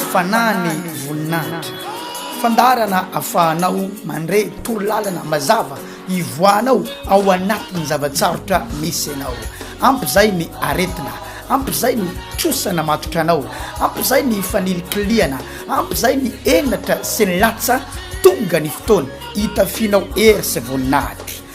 Fanahy ny voninahitra. Fandaharana afahanao mandre torolalana mazava ivoahanao ao anatin'ny zava-tsarotra misy anao. Ampy izay ny aretina, ampy izay ny trosa namatotra anao, ampy izay ny fanilikilihana, ampy izay ny henatra sy ny latsa, tonga ny fotoana hitafianao hery sy voninahitra.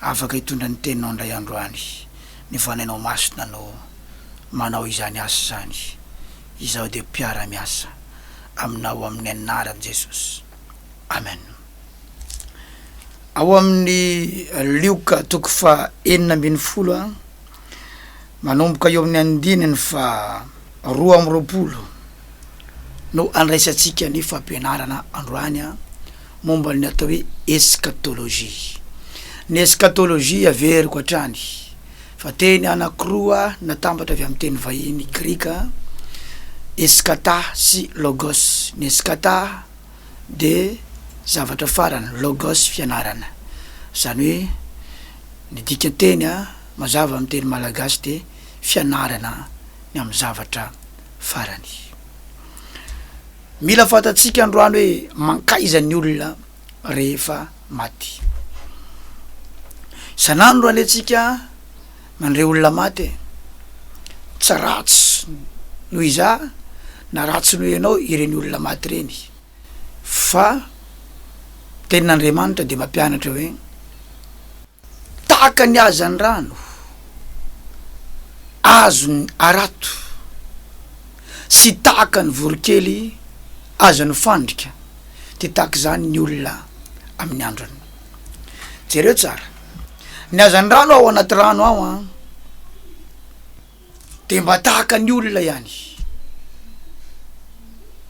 Afaka hitondra ny teninao indray androany ny Fanahinao Masina no manao izany asa izany. Izaho dia mpiara miasa Aminao amin'ny anaran'i Jesosy. Amen. Ao amin'ny Lioka toko faha enina ambin'ny folo a, manomboka eo amin'ny andininy faha roa amby roapolo. no handraisantsika ny fampianarana androany momba ny atao hoe eskatolojia. Ny eskatolojia averiko hatrany fa teny anankiroa natambatra avy amin'ny teny vahiny grika, eskata sy logos. Ny eskata dia zavatra farany, logos fianarana. Izany hoe ny dikan-teny mazava amin'ny teny malagasy dia fianarana ny amin'ny zavatra. farany. Mila fantatsika androany hoe mankaiza ny olona rehefa maty. Isan'andro alentsika mandre olona maty e. Tsy ratsy noho iza na ratsy noho ianao ireny olona maty ireny fa ny tenin'Andriamanitra dia mampianatra hoe. Tahaka ny hazandrano azon'ny harato sy tahaka ny voronkely azon'ny fandrika dia tahaka izany ny olona amin'ny androny. Jereo tsara ny hazandrano ao anaty rano ao an! Dia mba tahaka ny olona ihany.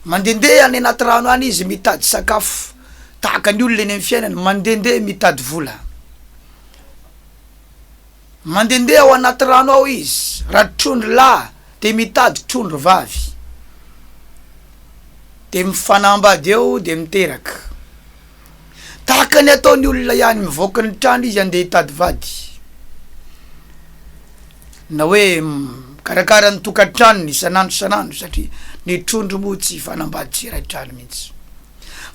Mandehandeha any anaty rano any izy mitady sakafo, tahaka ny olona eny amin'ny fiainana, mandehandeha mitady vola. Mandehandeha ao anaty rano ao izy, raha trondro lahy dia mitady trondro vavy. Dia mifanambady eo dia miteraka. Tahaka ny ataon'ny olona ihany, mivoaka ny trano izy handeha hitady vady, na hoe mikarakara ny tokantranony isan'andro isan'andro satria ny trondro moa tsy hifanambady tsy hiray trano mihitsy.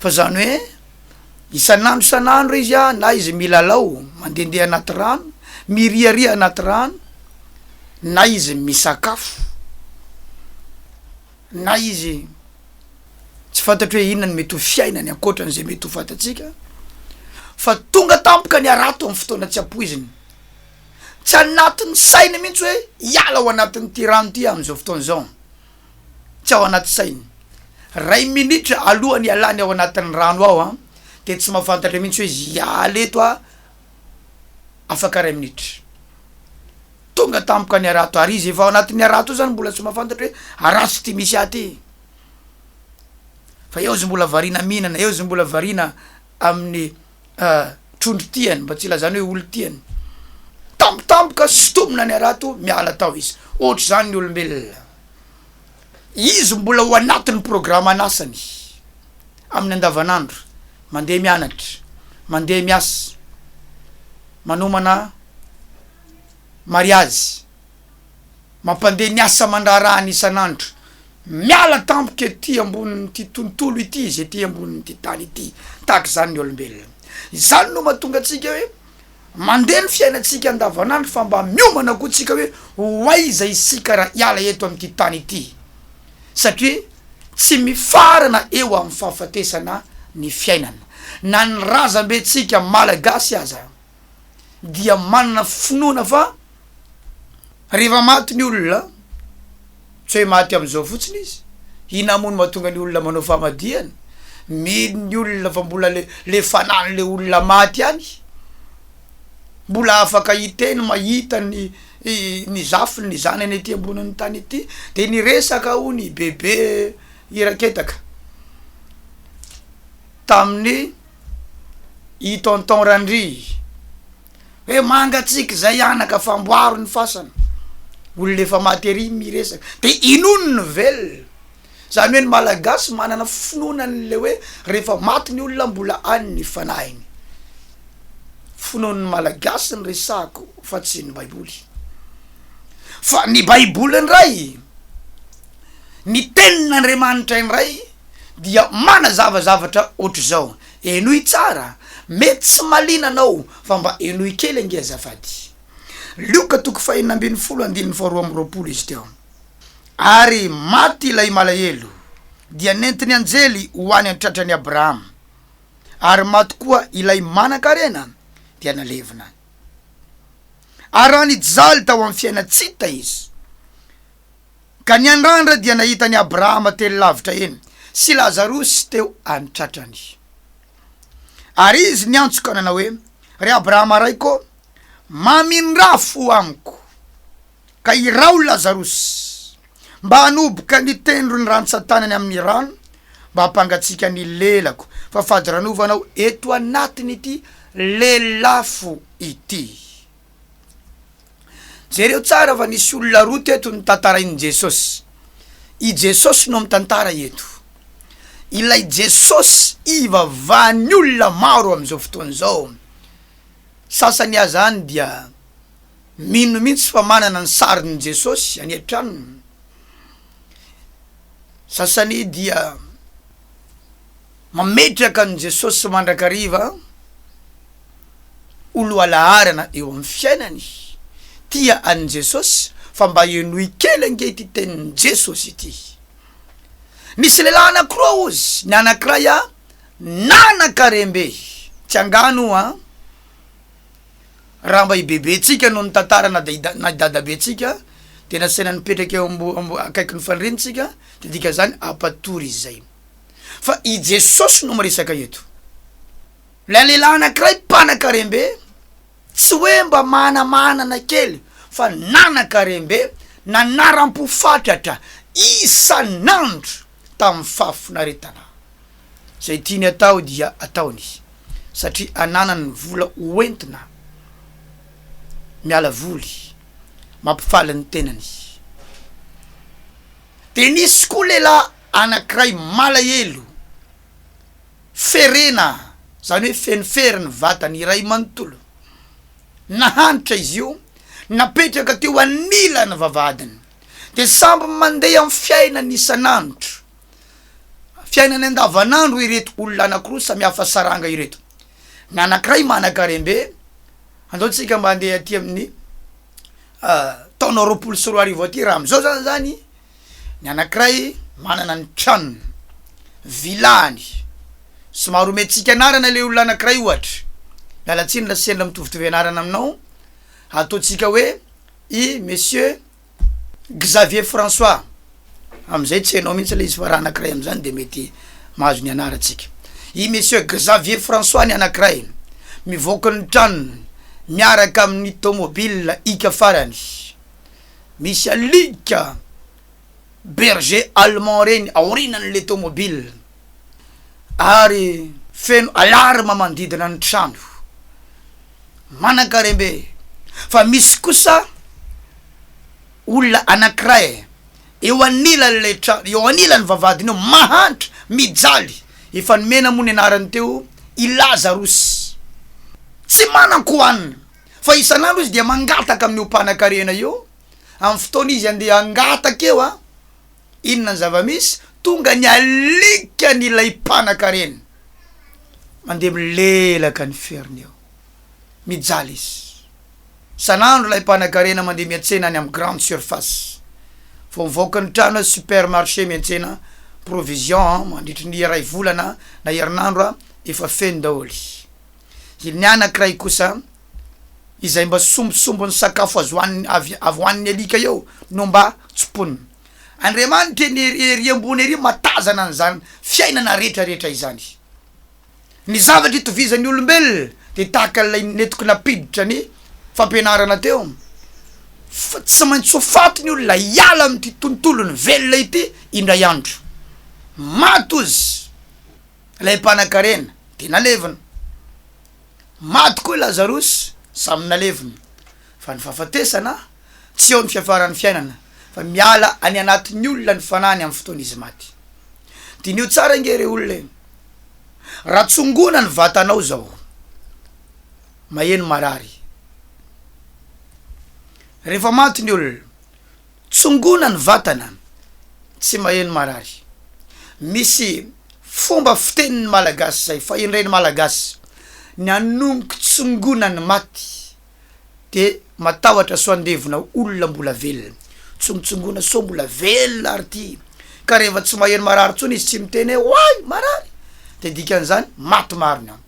Fa izany hoe isan'andro isan'andro izy an, na izy milalao mandehandeha anaty rano, miriaria anaty rano, na izy misakafo. Na izy tsy fantatro hoe inona no mety ho fiainany ankoatra an'izay mety ho fantatsika, fa tonga tampoka ny harato amin'ny fotoana tsy ampoizina. Tsy anatin'ny sainy mihitsy hoe hiala ao anatin'ity rano ity aho amin'izao fotoana izao. Tsy ao anaty sainy. Iray minitra alohan'ny hialany ao anatin'ny rano ao an, dia tsy mahafantatra mihitsy hoe hiala eto aho afaka iray minitra. Tonga tampoka ny harato ary izy efa ao anatin'ny harato io zany mbola tsy mahafantatra hoe harato ty misy ahy ty. Fa eo izy mbola variana mihinana, eo izy mbola variana amin'ny trondro tiany mba tsy hilazany hoe olon-tiany. Tampotampoka sintomina ny harato miala tao izy. Ohatr'izany ny olombelona. Izy mbola ao anatin'ny programan'asany amin'ny andavanandro, mandeha mianatra, mandeha miasa, manomana. Mariazy, mampandeha ny asa aman-draharahany isan'andro, miala tampoka ety ambonin'ity tontolo ity izy, ety ambonin'ity tany ity, tahaka izany ny olombelona. Izany no mahatonga antsika hoe mandeha ny fiainantsika andavanandro fa mba miomana koa tsika hoe ho aiza isika raha hiala eto amin'ity tany ity, satria tsy mifarana eo amin'ny fahafatesana ny fiainana, na ny razambentsika Malagasy aza. dia manana finoana fa rehefa maty ny olona, tsy hoe maty amin'izao fotsiny izy, inona moa no mahatonga ny olona manao famadihana? mino ny olona fa mbola le le fanan'le olona maty ihany, mbola afaka hiteny mahita ny ny zafiny ny zanany ety ambonin'ny tany ety, de niresaka hono i Bebe Iraketaka. tamin'ny i tonton Randria hoe mangatsiaka izay anaka fa amboaro ny fasana, olona efa maty ery miresaka dia inoany ny velona, izany hoe ny malagasy manana finoana an'ilay hoe rehefa maty ny olona mbola any ny fanahiny, finoan'ny malagasy ny resahako fa tsy ny baiboly, fa ny baiboly indray, ny tenin'Andriamanitra indray. dia manazava zavatra ohatr'izao, Henoy tsara, mety tsy malina anao fa mba henoy kely ange azafady. Lioka toko fahenina ambin'ny folo andininy faharoa amby roapolo izy teo. Ary maty ilay malahelo, dia nentin'ny anjely ho any an-tratran'i Abrahama. Ary maty koa ilay manan-karena, dia nalevina. Ary raha nijaly tao amin'ny fiaina-tsita izy, Ka ny andrandra dia nahita an'i Abrahama teny lavitra eny, sy Lazarosy teo an-tratrany. Ary izy niantso ka nanao hoe, Ry Abrahama raiko ô, mamindrà fo amiko, ka iraho Lazarosy, mba hanoboka ny tendron'ny rantsan-tanany amin'ny rano, mba hampangatsiaka ny lelako, fa fadiranovana aho eto anatin'ity lelafo ity. Jereo tsara fa nisy olona roa teto notantarain'i Jesosy. I Jesosy no mitantara eto. Ilay Jesosy ivavahan'ny olona maro amin'izao fotoana izao. Sasany aza any dia mino mihitsy fa manana ny sarin'i Jesosy any an-tranony. Sasany dia Mametraka an'i Jesosy mandrakariva ho lohalaharana eo amin'ny fiainany. Tia an'i Jesosy fa mba henoy kely ange ity tenin'i Jesosy ity. Nisy lehilahy anankiroa hozy, ny anankiray nanan-karembe. Tsy angano an! Raha mba i bebentsika no nitantara na dia na i dadabentsika dia nasaina nipetraka eo ambo akaikin'ny faniriantsika dia dikan'izany hampatory izay. Fa i Jesosy no miresaka eto. Ilay lehilahy anankiray mpanakarem-be tsy hoe mba manamanana kely fa nanakarem-be nanaram-po fatratra isan'andro. tamin'ny fahafinaretana. Izay tiany atao dia ataony izy satria ananany ny vola hoentina miala voly, mampifaly ny tenany. Dia nisy koa lehilahy anankiray malahelo, ferena, izany hoe feno fery ny vatany iray manontolo. Nahantra izy io, napetraka teo anilan'ny vavahadiny. dia samby mandeha amin'ny fiainany isan'andro, fiainany andavanandro ireto olona anankiroa samihafa saranga ireto. Ny anankiray manankarem-be, andao tsika mba handeha aty amin'ny ah, taona roapolo sy roa arivo aty raha amin'izao zany zany, ny anankiray manana ny tranony, vilany, somary omentsika anarana le olona anankiray ohatra, miala tsiny raha sendra mitovitovy anarana aminao, ataontsika hoe. i Monsieur Xavier François, amin'izay tsy hainao mihitsy ilay izy fa raha anankiray amin'izany dia mety mahazo ny anarantsika. I Monsieur Xavier François ny anankiray, mivoaka ny tranony miaraka amin'ny tômôbila ika farany, misy alika. berger allemand reny aorinan'le tomobile ary feno alarme manodidina ny trano. Manankarembe fa misy kosa olona anankiray eo anilan'ilay trano, eo anilan'ny vavahadina eo mahantra, mijaly, efa nomena moa ny anarany teo i Lazarus. Tsy manan-kohanina fa isan'andro izy dia mangataka amin'io mpanakarena io Amin'ny fotoana izy andeha hangataka eo an! Inona ny zava-misy? Tonga ny alikany ilay mpanakarena. Mandeha milelaka ny feriny eo. Mijaly izy. Isan'andro ilay mpanakarena mandeha miantsena any amin'ny grande surface. Vao mivoaka ny trano, supermarché miantsena provision an! Mandritry ny iray volana na herinandro an! Efa feno daholo. Ny anankiray kosa, izay mba sombisombin'ny sakafo azo hohanina avy avy ho an'ny alika eo no mba tsimponina. Andriamanitra eny ery ery ambony ery mahatazana an'izany fiainana rehetra rehetra izany. Ny zavatra itovizan'ny olombelona dia tahaka an'ilay nentiko nampiditra ny fampianarana teo fa tsy maintsy ho faty ny olona hiala amin'ity tontolon'ny velona ity indray andro. Maty ozy. Ilay mpanakarena dia nalevina. Maty koa i Lazarosy, samy nalevina. Fa ny fahafatesana tsy eo ny fiafaran'ny fiainana, fa miala any anatin'ny olona ny fanahiny amin'ny fotoana izy maty. Diniho tsara ange re olona e! Raha tsongona ny vatanao izao, maheno marary. Rehefa maty ny olona, Tsongona ny vatana, tsy maheno marary. Misy fomba fiteny ny Malagasy izay fahendren'ny Malagasy ny hanonoko tsongona ny maty dia matahotra sao handevona olona mbola velona. Tsongotsongona sao mbola velona ary ity ka rehefa tsy maheno marary intsony izy tsy miteny hoe oay marary dia dikan'izany maty marina.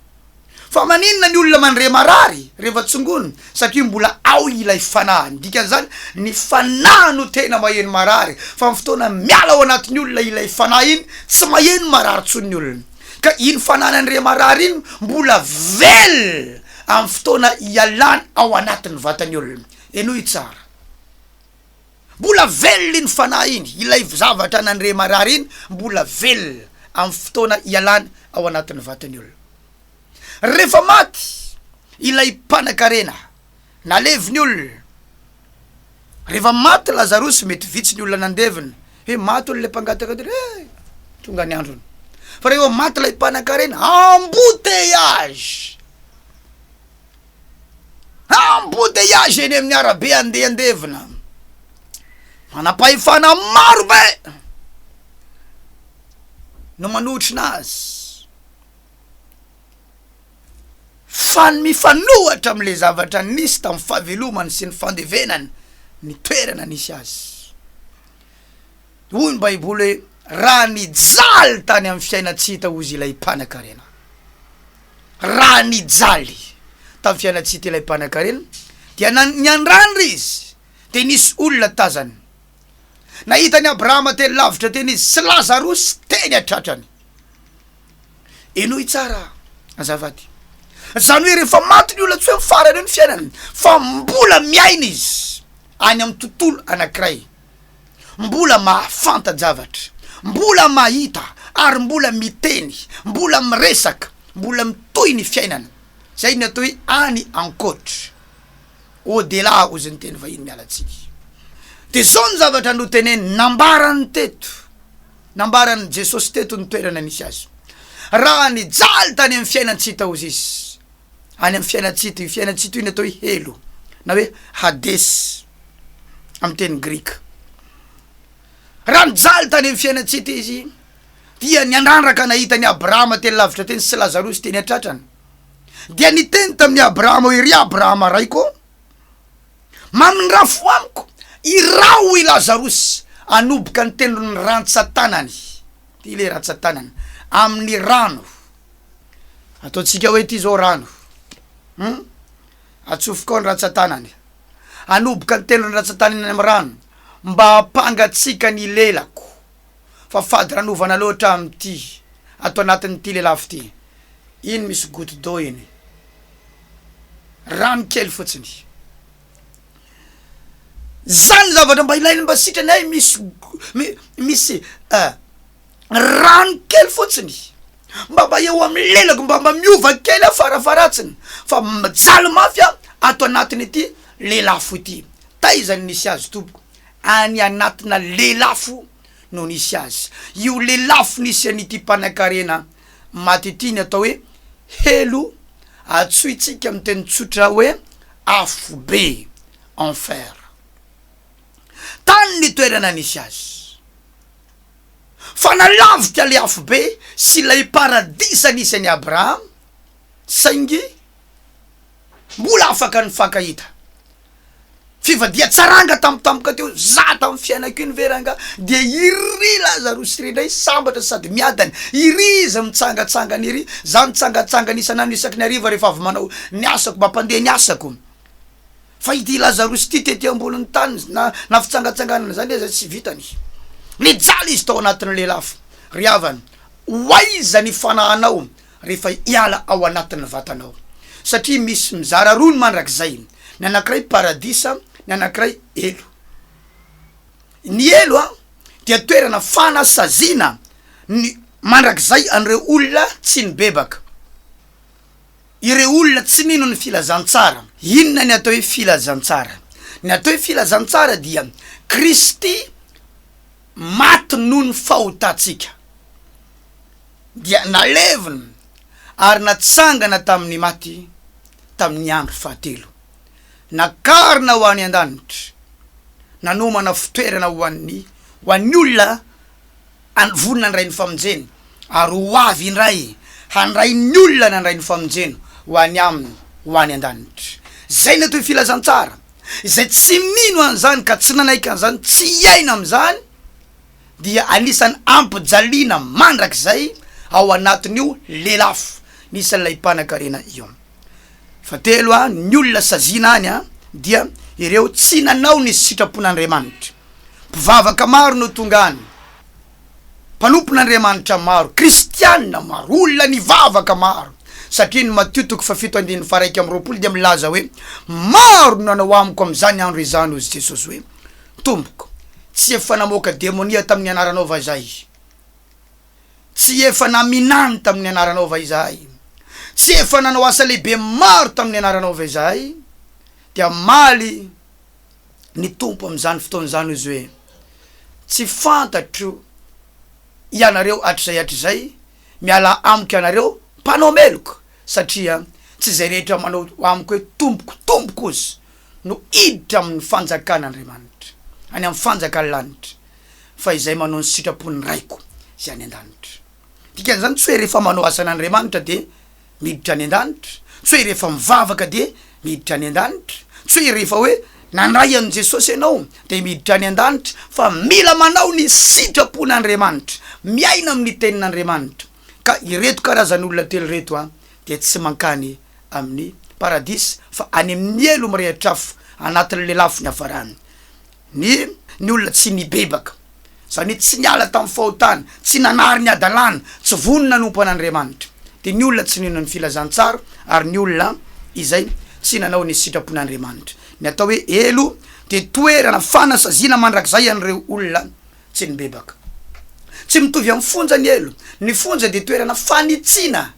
Fa maninona ny olona mandre marary rehefa tsongonina? Satria mbola ao ilay fanahy. Ny dikan'izany, ny fanahy no tena maheno marary, fa amin'ny fotoana miala ao anatin'ny olona ilay fanahy iny, tsy maheno marary intsony ny olona. Ka iny fanahy nandre marary iny mbola velona amin'ny fotoana ialany ao anatin'ny vatan'ny olona. Henoy tsara. Mbola velona iny fanahy iny, ilay zavatra nandre marary iny mbola velona amin'ny fotoana ialany ao anatin'ny vatan'ny olona. Rehefa maty ilay mpanankarena, nalevin'ny olona. Rehefa maty Lazarosy, mety vitsy ny olona nandevina hoe maty hono ilay mpangataka teo, eh! tonga ny androny. Fa rehefa maty ilay mpanankarena, embouteillage! Embouteillage eny amin'ny arabe andehandevina. Manam-pahefana maro be no manotrona azy fa ny mifanohatra amin'ilay zavatra nisy tamin'ny fahavelomany sy ny fandevenany ny toerana nisy azy. Hoy ny Baiboly hoe, Raha nijaly tany amin'ny fiainan-tsy hita hozy ilay mpanankarena. Raha nijaly tamin'ny fiainan-tsy hita ilay mpanankarena, dia na, niandrandra izy, dia nisy olona tazany. Nahita an'i Abrahama teny lavitra teny izy, sy Lazarosy teny an-tratrany. Henoy tsara azafady. Izany hoe rehefa maty ny olona tsy hoe mifarana eo ny fiainany, fa mbola miaina izy, any amin'ny tontolo anankiray. mbola mahafanta-javatra, mbola mahita ary mbola miteny, mbola miresaka, mbola mitohy ny fiainana, izay ny atao hoe any ankoatra, au-delà hozy ny teny vahiny miala tsiny. Dia izao ny zavatra noteneniny, nambarany teto, nambaran'i Jesosy teto ny toerana nisy azy, raha nijaly tany amin'ny fiainan-tsy hita hozy izy, any amin'ny fiainantsika toy, fiainantsika toy ny atao hoe helo na hoe hades amin'ny teny grika. Raha nijaly tany amin'ny fiainantsika toy izy dia niandrandraka nahita an'i Abrahama teny lavitra teny sy Lazarosy teny an-tratrany. Dia niteny tamin'i Abrahama hoe, Ry Abrahama raiko ô, mamindrà fo amiko, iraho i Lazarosy hanoboka ny tendron'ny rantsan-tanany, ity ilay rantsan-tanany, amin'ny rano Ataontsika hoe ity izao rano hum atsofoka ao ny ratsan-tanany, hanoboka ny tenan'ny ratsan-tanany any amin'ny rano mba hampangatsiaka ny lelako fa fady ranovana loatra aho amin'ity ato anatin'ity lelafo ity, iny misy goutte d'eau iny, rano kely fotsiny, zany ny zavatra mba ilainy mba sitrany hay misy go- mi- misy eh. rano kely fotsiny mba mba eo amin'ny lelako mba mba miova kely aho farafaharatsiny fa mijaly mafy aho ato anatin'ity lelafo ity taiza ny nisy azy tompoko any anatina lelafo no nisy azy io lelafo nisy an'ity mpanakarena maty ity ny atao hoe helo atsointsika amin'ny teny tsotra hoe afobe enfer tany ny toerana nisy azy fa nanavika ilay afobe sy ilay paradisa nisy an'i Abrahama, saingy mbola afaka nifankahita. Fivadihan-tsaranga tampotampoka teo, za tamin'ny fiainako iny ve rangaha dia iry Lazarosy iry indray sambatra sady miadana, iry izy mitsangatsangana iry, za nitsangatsangana isan'andro isaky ny hariva rehefa avy manao ny asako, mampandeha ny asako. Fa ity Lazarosy ity tety ambonin'ny tany na na fitsangatsanganana izany aza tsy vitany. Nijaly izy tao anatin'ilay lafo. Ry havana, ho aiza ny fanahinao rehefa hiala ao anatin'ny vatanao? Satria misy mizara roa ny mandrakizay, ny anankiray paradisa, ny anankiray helo. Ny helo dia toerana fanasaziana ny mandrakizay an'ireo olona tsy nibebaka. ireo olona tsy mino ny filazantsara. Inona ny atao hoe filazantsara? Ny atao hoe filazantsara dia Kristy maty noho ny fahotantsika, dia nalevina ary natsangana tamin'ny maty tamin'ny andro fahatelo, nakarina ho any an-danitra, nanomana fitoerana ho an'ny ho an'ny olona Any vonona ny Rain'ny famonjena, ary ho avy indray handray ny olona nandray ny famonjena ho any Aminy ho any an-danitra. Izay no atao hoe Filazantsara. Izay tsy mino an'izany ka tsy nanaiky an'izany, tsy hiaina amin'izany, dia anisan'ny hampijaliana mandrakizay ao anatin'io lelafo misy an'ilay mpanankarena io. Fahatelo, ny olona saziana any dia ireo tsy nanao ny sitrapon'Andriamanitra. Mpivavaka maro no tonga any, mpanompon'Andriamanitra maro, kristiana maro, olona nivavaka maro, satria ny Matio toko fahafito andininy faharaika amby roapolo dia milaza hoe, Maro no nanao amiko amin'izany andro izany, hoy Jesosy hoe, Tompoko, tsy efa namoaka demonia tamin'ny anaranao va izahay? Tsy efa naminany tamin'ny anaranao va izahay? Tsy efa nanao asa lehibe maro tamin'ny anaranao va izahay? Dia hamaly ny Tompo amin'izany fotoana izany hozy hoe, Tsy fantatro ianareo hatrizay hatrizay, mialà amiko ianareo mpanao meloka, satria tsy izay rehetra manao amiko hoe, Tompoko, Tompoko hozy no hiditra amin'ny fanjakan'Andriamanitra, any amin'ny fanjakan'ny lanitra. fa izay manao ny sitrapon'ny Raiko izay any an-danitra. Ny dikan'izany, tsy hoe rehefa manao asan'Andriamanitra dia miditra any an-danitra, tsy hoe rehefa mivavaka dia miditra any an-danitra, tsy hoe rehefa hoe nandray an'i Jesosy ianao dia miditra any an-danitra, fa mila manao ny sitrapon'Andriamanitra, miaina amin'ny Tenin'Andriamanitra. Ka ireto karazan'olona telo ireto dia tsy mankany amin'ny Paradisa fa any amin'ny helo mirehitra afo anatin'ny lelafo niafarany. Ny ny olona tsy nibebaka, izany hoe tsy niala tamin'ny fahotany, tsy nanary ny hadalana, tsy vonona nanompo an'Andriamanitra, dia ny olona tsy nino ny filazantsara ary ny olona izay tsy nanao ny sitrapon'Andriamanitra. Ny atao hoe helo dia toerana fanasaziana mandrakizay an'ireo olona tsy nibebaka. Tsy mitovy amin'ny fonja ny helo. Ny fonja dia toerana fanitsiana.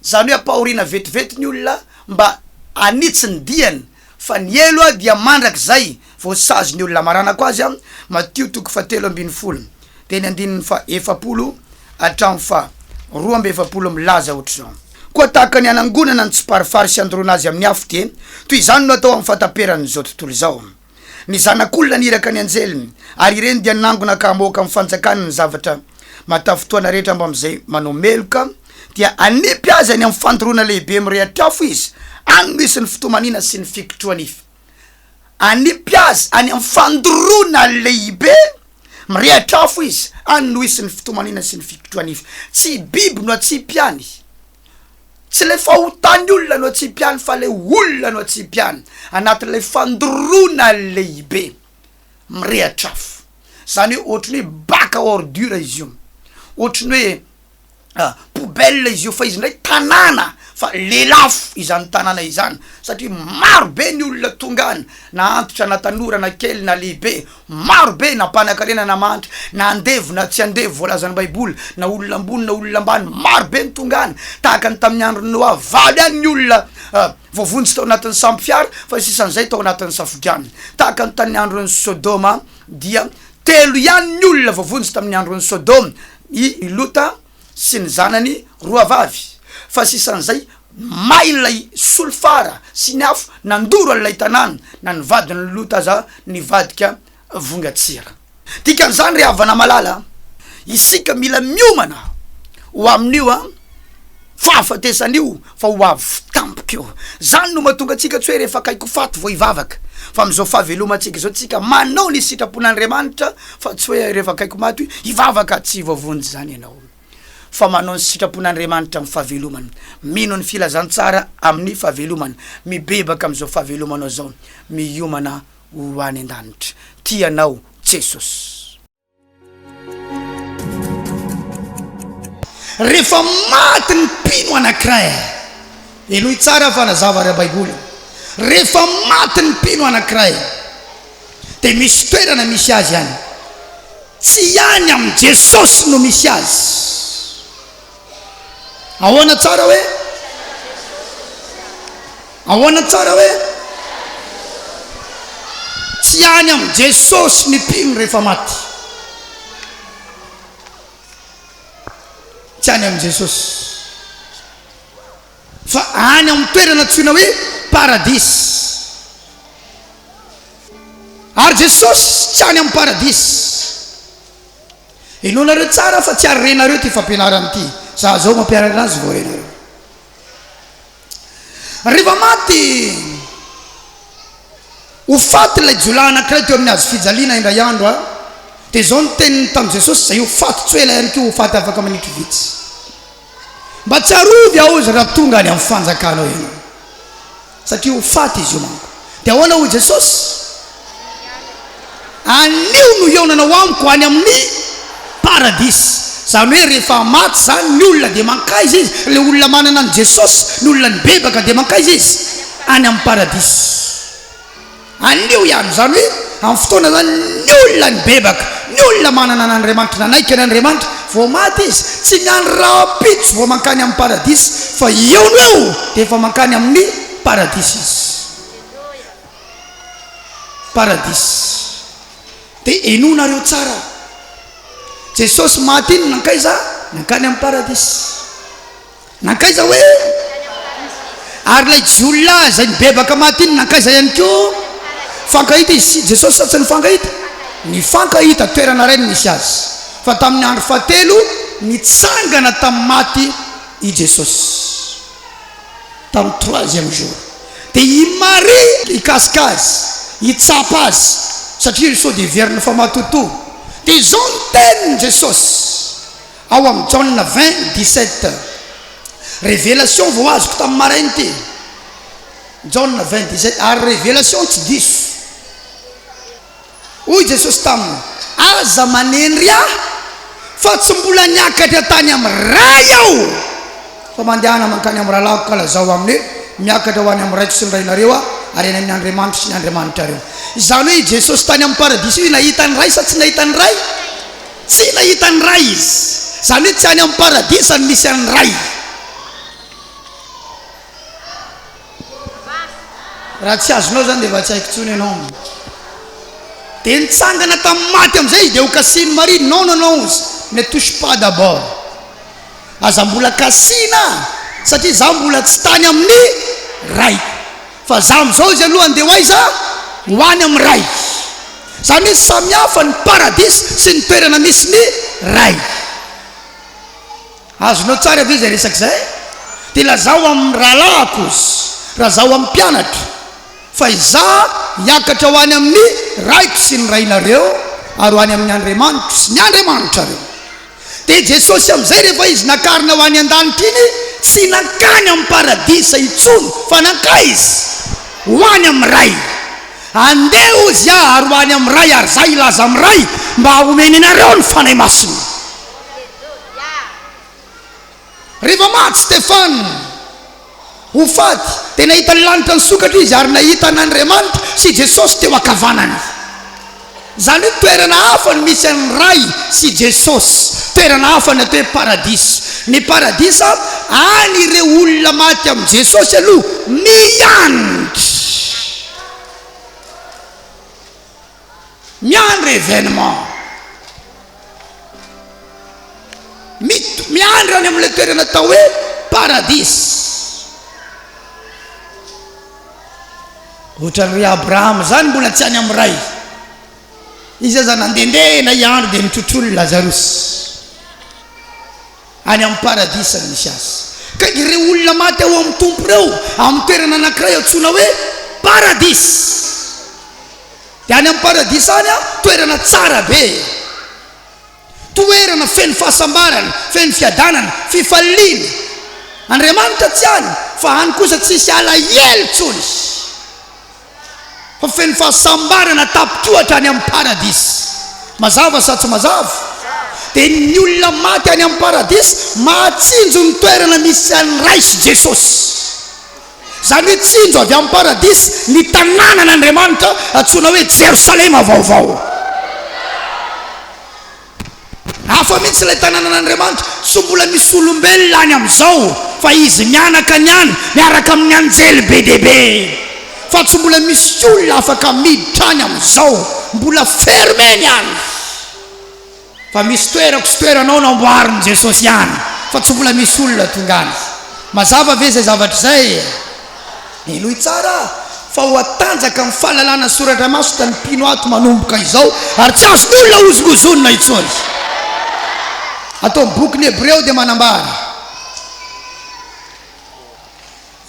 Izany hoe ampahoriana vetivety ny olona mba hanitsy ny diany, fa ny helo dia mandrakizay voasazy ny olona. Amaranako azy, Matio toko fahatelo ambin'ny folo, teny andininy fahaefapolo hatramin'ny faharoa amby efapolo milaza ohatr'izao, Koa tahaka ny hanangonana ny tsiparifary sy handoroana azy amin'ny afo, dia toy izany no atao amin'ny fahataperan'izao tontolo izao. Ny Zanak'olona niraka ny anjeliny, ary ireny dia nangona ka hamoaka amin'ny fanjakany ny zavatra mahatafintohana rehetra ambamin'izay manao meloka, dia hanipy azy any amin'ny fandoroana lehibe mirehitra afo izy, any no hisy ny fitomaniana sy ny fikitrohanify. Hanipy azy any amin'ny fandoroana lehibe mirehitra afo izy, any no hisy ny fitomaniana sy ny fikitrohanify. Tsy biby no hatsipy any. Tsy le fahotan'ny olona no atsipihany fa le olona no atsipihany anatin'ilay fandoroana lehibe mirehatra afo. Zany hoe ohatran'ny hoe bac à ordures izy io, ohatran'ny hoe poubelle izy io fa izy ndray tanàna fa lelafo izany tanàna izany satria maro be ny olona tonga any na antitra na tanora na kely na lehibe. Maro be na mpanakarena na mahantra, na andevo na tsy andevo, voalazan'ny Baiboly, na olona ambony na olona ambany, maro be ny tonga any, tahaka ny tamin'ny andron'i Noa, valo ihany ny olona voavonjy tao anatin'ny sambo fiara, fa ny sisan'izay tao anatin'ny safodrano. Tahaka ny tamin'ny andron'i Sodoma, dia telo ihany ny olona voavonjy tamin'ny andron'i Sodoma, i Lota, sy ny zanany roa vavy fa sisan'izay may ilay solifara sy ny afo nandoro an'ilay tanàna na ny vadin'i Lota aza nivadika vongan-tsira. Dikan'izany ry havana malala a! isika mila miomana ho amin'io fahafatesana io Fa ho avy tampoka eo. Zany no mahatonga antsika tsy hoe rehefa akaiky ho faty vao hivavaka. Fa amin'izao fahavelomantsika izao tsika manao ny sitrapon'Andriamanitra fa tsy hoe rehefa akaiky ho maty hivavaka. Tsy voavonjy izany ianao fa manao ny sitrapon'Andriamanitra amin'ny fahavelomana. Mino ny filazantsara amin'ny fahavelomana. Mibebaka amin'izao fahavelomanao izao. Miomana ho any an-danitra. Tia anao Jesosy. Rehefa maty ny mpino anankiray, henoy tsara fanazava ara-baiboly io, rehefa maty ny mpino anankiray dia misy toerana misy azy any, tsy any amin'i Jesosy no misy azy, Ahoana tsara hoe? Ahoana tsara hoe? Tsy any amin'i Jesosy ny mpino rehefa maty. Tsy any amin'i Jesosy. Fa any amin'ny toerana antsoina hoe paradisa. Ary Jesosy tsy any amin'ny paradisa. Henoinareo tsara fa tsy ary renareo ity fampianarana ity. Za zao mampianatra azy vao renareo. Rehefa maty ho faty ilay jiolahy anankiray teo amin'ny hazo fijaliana indray andro a dia izao ny teniny tamin'i Jesosy, izay ho faty tsy ho ela ihany koa ho faty afaka minitry vitsy. Mba tsarovy aho izy raha tonga any amin'ny fanjakanao ianao, satria ho faty izy io manko. Dia ahoana hoy Jesosy? Anio no hihaonanao amiko any amin'ny paradisa. Izany hoe rehefa maty izany ny olona dia mankaiza izy? Ilay olona manana an'i Jesosy, ny olona nibebaka dia mankaiza izy? Any amin'ny paradisa. Anio ihany izany hoe amin'ny fotoana izany ny olona nibebaka, ny olona manana an'Andriamanitra, nanaiky an'Andriamanitra vao maty izy, tsy ny andro rahampitso vao mankany amin'ny paradisa fa eo no eo dia efa mankany amin'ny paradisa izy. Paradisa. Dia henoinareo tsara. Jesosy maty iny nankaiza? Nankany amin'ny paradisa. Nankaiza hoe? Ary ilay jiolahy izay nibebaka maty iny nankaiza ihany koa? Nifankahita izy sy Jesosy sa tsy nifankahita? Nifankahita, toerana iray no nisy azy. Fa tamin'ny andro fahatelo, nitsangana tamin'ny maty i Jesosy. Tamin'ny troisième jour. Dia i Maria hikasika azy, hitsapa azy, satria sao dia heveriny fa matotoa. Dia izao ny tenin'i Jesosy. Ao amin'ny Jaona vingt, dix sept. Revelation vao azoko tamin'ny maraina ity. Jaona vingt, dix sept, ary Revelation tsy diso. Hoy Jesosy taminy, Aza manenry Ahy, fa tsy mbola niakatra tany amin'ny Ray Aho, fa mandehana mankany amin'ny rahalahiko ka lazao aminy hoe, Miakatra ho any amin'ny Raiko sy ny Rainareo Aho, ary any amin'ny Andriamanitro sy ny Andriamanitrareo. Izany hoe i Jesosy tany amin'ny Paradisa io nahita ny Ray sa tsy nahita ny Ray? Tsy nahita ny Ray izy, izany hoe tsy any amin'ny Paradisa no misy an'ny Ray. Raha tsy azonao izany dia efa tsy haiko intsony ianao. Dia nitsangana tamin'ny maty amin'izay izy dia hokasihin'i Maria, non, non, non, ne touche pas d'abord, aza mbola kasihina, satria izaho mbola tsy tany amin'ny Raiko. Fa za amizao izy aloha andeha ho aiza? Ho any amin'ny Ray. Zany hoe samihafa ny paradisa sy ny toerana misy ny Ray. Azonao tsara ve izay resaka izay? Dia lazao amin'ny rahalahiko ozy, raha zaho amin'ny mpianatro, fa izaho hiakatra ho any amin'ny Raiko sy ny Rainareo ary ho any amin'ny Andriamanitro sy ny Andriamanitrareo. Dia Jesosy amin'izay rehefa Izy nakarina ho any an-danitra iny, tsy nankany amin'ny paradisa intsony, fa nankaiza? Ho any amin'ny Ray. Andeha hozy aho ary ho any amin'ny Ray ary izaho hilaza amin'ny Ray mba homeny anareo ny Fanahy Masina. Rehefa maty Stefana ho faty, dia nahita ny lanitra nisokatra izy ary nahita an' Andriamanitra sy Jesosy teo ankavanany. Izany hoe toerana hafa no misy an' ny Ray sy Jesosy, toerana hafa ny atao hoe paradisa. Ny paradisa, any ireo olona maty amin' i Jesosy aloha miantra. Miandry événement. Mit, miandry any amin'ilay toerana atao hoe paradis. Ohatran'ny ry Abraham zany mbola tsy any amin'ny Ray. Izy aza nandendeha na hiandry dia nitrotrony Lazarus. any amin'ny Paradisa no misy azy. Ka ireo olona maty ao amin'ny Tompo ireo, amin'ny toerana anankiray antsoina hoe Paradisa. Dia any amin'ny Paradisa any an, toerana tsara be e! Toerana feno fahasambarana, feno fiadanana, fifaliana. Andriamanitra tsy any, fa any kosa tsy hisy alahelo intsony. fa feno fahasambarana tapitohatra any amin'ny paradisa. Mazava sa tsy mazava? Dia ny olona maty any amin'ny paradisa mahatsinjo ny toerana misy an'ny Ray sy Jesosy. Izany hoe tsinjo avy amin'ny paradisa ny tanànan'Andriamanitra antsoina hoe Jerosalema vaovao. Hafa mihitsy ilay tanànan'Andriamanitra, tsy mbola misy olombelona any amin'izao, fa Izy mianaka ny any miaraka amin'ny anjely be dia be. Fa tsy mbola misy olona afaka miditra any amin'izao, mbola fermé ny any. Fa misy toerako sy toeranao namboarin'i Jesosy any, fa tsy mbola misy olona tonga any. Mazava ve izay zavatra izay? Henoy tsara fa hoatanjaka amin'ny fahalalana soratra masina ny mpino ato manomboka izao ary tsy azon'olona hozongozonina intsony. Ato amin'ny bokin'ny Hebreo dia manambara,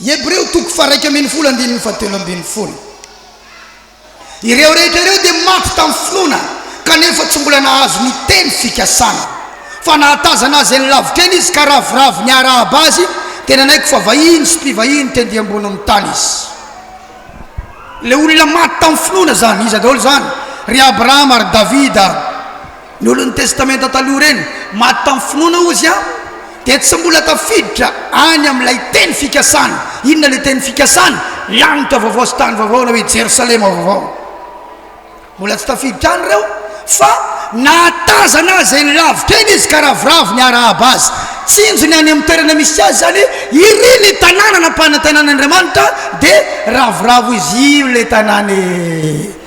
Hebreo toko faha-raika ambin'ny folo andininy fahatelo ambin'ny folo, Ireo rehetra ireo dia maty tamin'ny finoana, kanefa tsy mbola nahazo ny Teny fikasana. Fa nahatazana Azy any lavitra any Izy, ka ravoravo niarahaba Azy, dia nanaiky fa vahiny sy mpivahiny tendy ambonin'ny tany Izy. Ilay olona maty tamin'ny finoana izany, iza daholo izany? Ry Abrahama, ry Davida. Ny olon'ny Testamenta Taloha ireny maty tamin'ny finoana, hozy aho, dia tsy mbola tafiditra any amin'ilay teny fikasana. Inona ilay teny fikasana? Lanitra vaovao sy tany vaovao na hoe Jerosalema Vaovao. Mbola tsy tafiditra any ireo, fa nahatazana azy eny lavitra eny izy ka ravoravo ny harahaba azy. Tsinjony any amin'ny toerana misy azy izany iry ny tanàna nampanantenan'Andriamanitra, dia ravoravo izy io ilay tanàna e!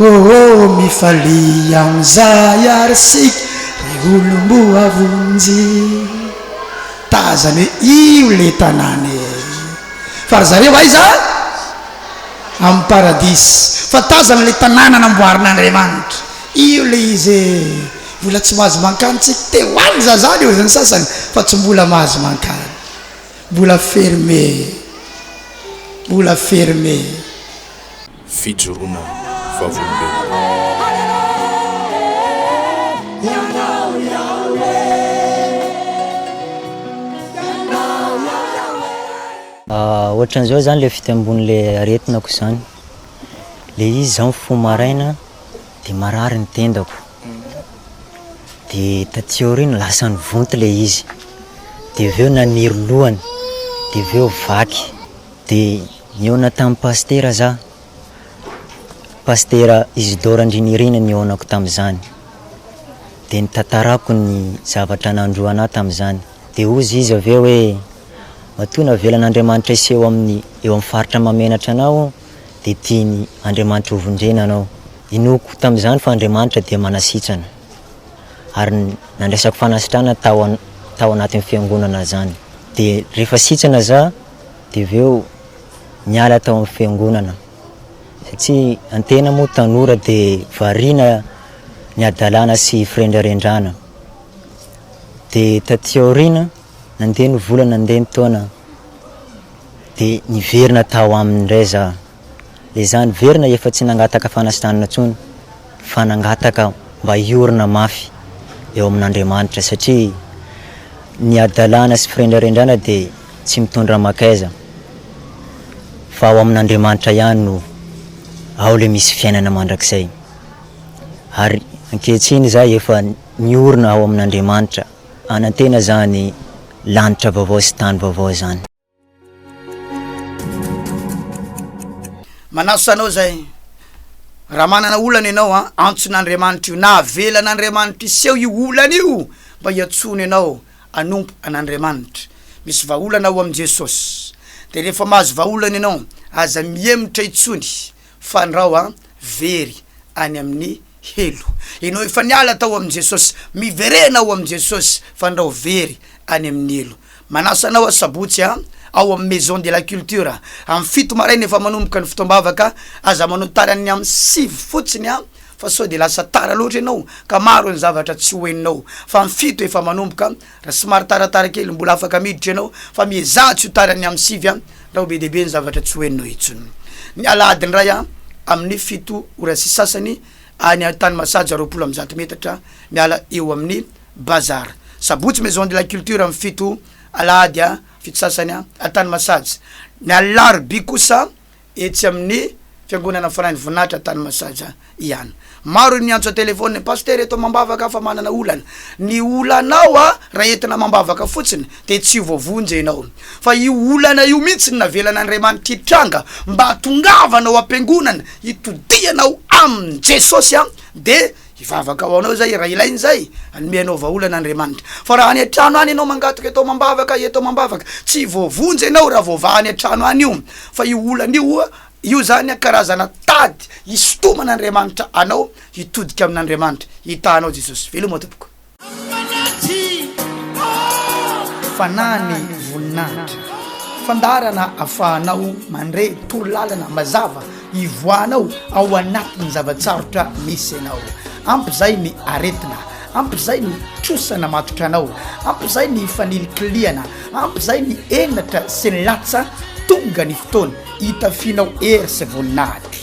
Oh oh mifalia amin'izay ary isika ry olom-boavonjy Tazany hoe io ilay tanàna e Fa ry zareo aiza? Amin'ny paradisa Fa tazana ilay tanàna namboarin'Andriamanitra Io ilay izy e Mbola tsy mahazo mankany tsika Te ho any za zany hoy ny sasany Fa tsy mbola mahazo mankany Mbola fermé Mbola fermé fijoroana vavolombelona. Ohatran'izao zany le fitembon'ny le aretinako zany, le izy zao mifoha maraina de marary ny tendako, de taty aoriana lasa nivonto le izy, de avy eo naniry lohany, de avy eo vaky, de. Nihaona tamin'i Pasitera za. Pasitera Isidore Andrinirina nihaonako tamin'izany. Dia nitantarako ny zavatra nandroana ahy tamin'izany. Dia hozy izy avy eo hoe, Matoa navelan'Andriamanitra hiseho amin'ny eo amin'ny faritra mahamenatra anao, dia tiany Andriamanitra hovondrena anao. Inoako tamin'izany fa Andriamanitra dia manasitrana. Ary nandraisako fanasitrana tao tao anatin'ny Fiangonana izany. Dia rehefa sitrana za. Dia avy eo niala tao amin'ny fiangonana satria antena moa tanora dia variana ny hadalana sy firendrarendrana. Dia taty aoriana nandeha ny vola nandeha ny taona dia niverina tao aminy indray za. Ezaho niverina efa tsy nangataka fanasitranana intsony fa nangataka mba hiorina mafy eo amin'Andriamanitra satria ny hadalana sy firendrarendrana dia tsy mitondra makaiza fa ao amin'Andriamanitra ihany no ao ilay misy fiainana mandrakizay. Ary ankehitriny izaho efa niorina ao amin'Andriamanitra hanantena izany lanitra vaovao sy tany vaovao izany. manasa anao zay raha manana olana ianao a antson'andriamanitra io na avelan'andriamanitra iseho io olana io mba hiantsoana ianao anompo an'andriamanitra misy vahaolana ao amin'i jesosy de rehefa mahazo vahaolana ianao aza mihemotra intsony Fandrao an! Very any amin'ny helo. Ianao efa niala tao amin'i Jesosy, miverena ao amin'i Jesosy, fandrao very any amin'ny helo. Manasa anao aho Sabotsy an! Ao amin'ny Maison de la Culture, amin'ny fito maraina efa manomboka ny fotoam-bavaka, aza manao tara ny amin'ny sivy fotsiny an! Fa sao dia lasa tara loatra ianao ka maro ny zavatra tsy ho henonao. Fa amin'ny fito efa manomboka. Raha somary taratara kely mbola afaka miditra ianao fa miezaha tsy ho tara ny amin'ny sivy an! Raha ho be dia be ny zavatra tsy ho henonao intsony ny alahady indray an! Amin'ny fito ora sy sasany any tany Masaja roapolo amby zato metatra miala eo amin'ny Bazar. Sabotsy Maison de la Culture amin'ny fito alahady fito sasany an! tany Masaja. Ny alarobia kosa etsy amin'ny Fiangonana Fanahin'ny Voninahitra tany Masaja ihany. Maro ny miantso an-telefaonina, Pasitera eto amam-bavaka fa manana olana. Ny olanao raha entina amam-bavaka fotsiny dia tsy voavonjy ianao. Fa io olana io mihitsy no navelan'Andriamanitra hitranga mba hatongavana ao am-piangonana, hitodihanao amin'i Jesosy dia Hivavaka ho anao izahay raha ilaina izay, hanome anao vahaolana Andriamanitra. Fa raha any an-trano any ianao mangataka eto amam-bavaka, eto amam-bavaka, tsy voavonjy ianao raha voavaha any an-trano any io. Fa io olana io, io izany karazana tady hisintoman'Andriamanitra anao hitodika amin'Andriamanitra. Hitahanao Jesosy. Veloma tompoko. Fanahy ny voninahitra. Fandaharana ahafahanao mandre torolalana mazava ivoahanao ao anatin'ny zava-tsarotra misy anao. Ampy izay ny aretina, ampy izay ny trosa namatotra anao, ampy izay ny fanilikilihana, ampy izay ny henatra sy ny latsa, tonga ny fotoana hitafianao hery sy voninahitra.